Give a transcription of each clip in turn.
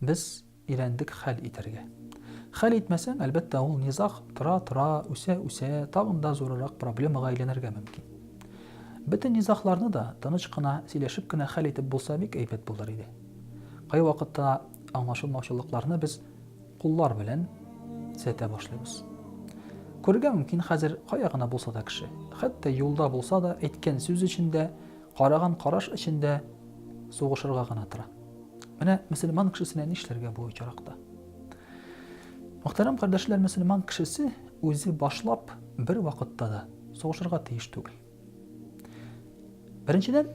Без өйрәндек хәл итәргә. Хәл итмәсәң, әлбәттә, ул низаг тора-тора, үсә-үсә, тагын да зурырак проблемага әйләнергә мөмкин. Бөтен низагларны да тыныч кына, сөйләшеп кенә хәл итеп булса, бик әйбәт булыр иде. Кайвакытта аңлашылмаучылыкларны без куллар белән төзәтә башлыйбыз. Күрергә мөмкин хәзер кая гына булса да кеше, хәтта юлда булса да, әйткән сүз эчендә Караган караш эчендә сугышырга гына тора. Менә мөселман кешесенә нишләргә бу очракта? Мөхтәрәм кардәшләр, мөселман кешесе үзе башлап бер вакытта да сугышырга тиеш түгел. Беренчедән,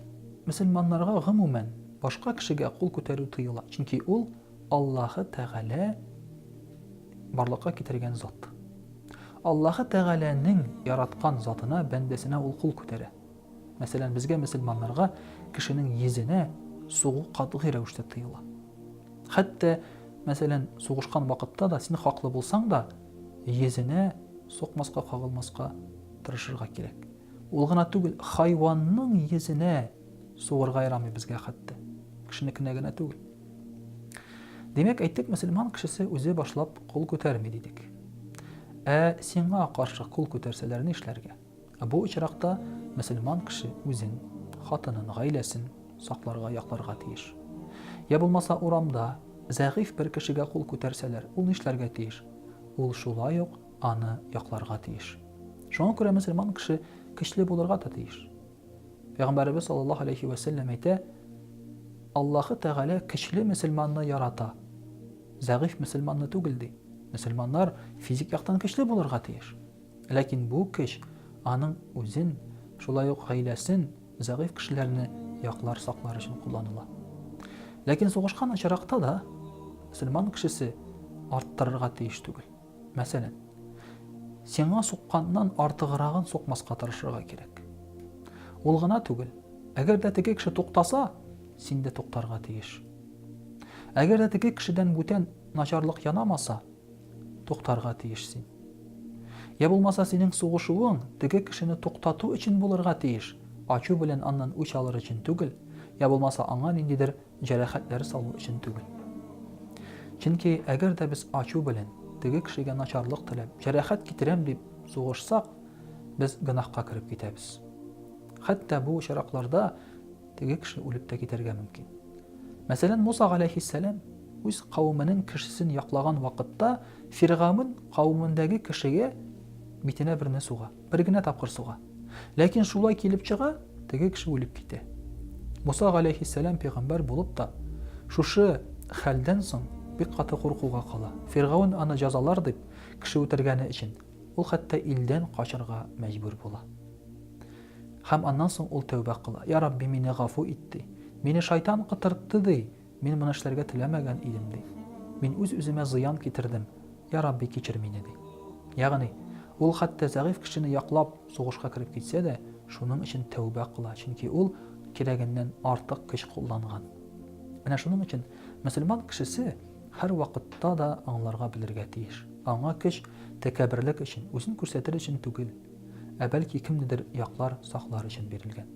мөселманнарга гомумән башка кешегә кул күтәрү тыела, чөнки ул Аллаһы Тәгалә барлыкка китергән зат. Аллаһы Тәгаләнең яраткан затына, бәндәсенә ул кул күтәрә. Мәсәлән, безгә мөселманнарга кешенең йөзенә сугу катгый рәвештә тыела. Хәтта, мәсәлән, сугышкан вакытта да син хаклы булсаң да, йөзенә сукмаска, кагылмаска тырышырга кирәк. Ул гына түгел, хайванның йөзенә сугырга ярамый безгә хәтта. Кешенекенә генә түгел. Димәк, әйттек, мөселман кешесе үзе башлап кул күтәрми дидек. Ә сиңа каршы кул күтәрсәләр ни эшләргә? Бу очракта мөселман кеше үзен, хатынын, гаиләсен сакларга, якларга тиеш. Йә булмаса урамда зәгыйфь бер кешегә кул күтәрсәләр, ул нишләргә тиеш? Ул шулай ук аны якларга тиеш. Шуңа күрә мөселман кеше көчле булырга да тиеш. Пәйгамбәребез саллаллаһу алейхи вә сәлләм әйтә, Аллаһы Тәгалә көчле мөселманны ярата, зәгыйфь мөселманны түгел, ди. Мөселманнар физик яктан көчле булырга тиеш. Ләкин бу көч аның үзен, шулай ук гаиләсен, зәгыйфь кешеләрне яклар, саклар өчен кулланыла. Ләкин сугышкан очракта да мөселман кешесе арттырырга тиеш түгел. Мәсәлән, сиңа сукканнан артыграгын сукмаска тырышырга кирәк. Ул гына түгел, әгәр дә теге кеше туктаса, син дә туктарга тиеш. Әгәр дә теге кешедән бүтән начарлык янамаса, Туктарга тиеш син. Йә булмаса синең сугышуың теге кешене туктату өчен булырга тиеш, ачу белән аннан үч алыр өчен түгел, йә булмаса аңа ниндидер җәрәхәтләр салу өчен түгел. Чөнки әгәр дә без ачу белән, теге кешегә начарлык теләп, җәрәхәт китерәм дип сугышсак, без гөнаһка кереп китәбез. Хәтта бу очракларда Теге кеше үлеп тә китәргә мөмкин. Мәсәлән, Муса галәйһиссәлам үз кавеменең кешесен яклаган вакытта Фиргавен кавемендәге кешегә битенә берне суга. Бер генә тапкыр суга. Ләкин шулай килеп чыга, теге кеше үлеп китә. Муса галәйһиссәлам пәйгамбәр булып та шушы хәлдән соң бик каты куркуга кала. Фиргавен аны җәзалар дип, кеше үтергәне өчен, ул хәтта илдән качырга мәҗбүр була. Һәм аннан соң ул тәүбә кыла, Йа Рабби, мине гафу ит, ди. Мине шайтан котыртты, ди. Мин моны эшләргә теләмәгән идем, ди. Мин үз-үземә зыян китердем. Йа Рабби, кичер мине, ди. Ягъни, ул хәтта зәгыйфь кешене яклап сугышка кереп китсә дә, шуның өчен тәүбә кыла, чөнки ул кирәгеннән артык көч кулланган. Менә шуның өчен мөселман кешесе һәрвакытта да аңларга белергә тиеш, аңа көч тәкәбберлек өчен, үзен күрсәтер өчен түгел. ә бәлки кемнедер яклар, саклар өчен бирелгән.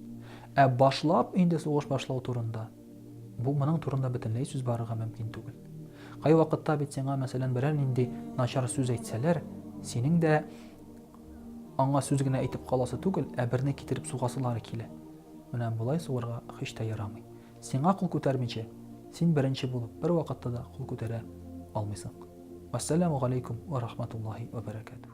Ә башлап инде сугыш башлау турында, бу моның турында бөтенләй сүз барырга мөмкин түгел. Кайвакытта бит сиңа, мәсәлән, берәр нинди начар сүз әйтсәләр, синең дә аңа сүз генә әйтеп каласы түгел, ә берне китереп сугасылары килә. Менә болай суырга һич тә ярамый. Сиңа кул күтәрмичә, син беренче булып бер вакытта да кул күтәрә алмыйсың. Вассаламу алейкум ва рахматуллахи ва баракатух.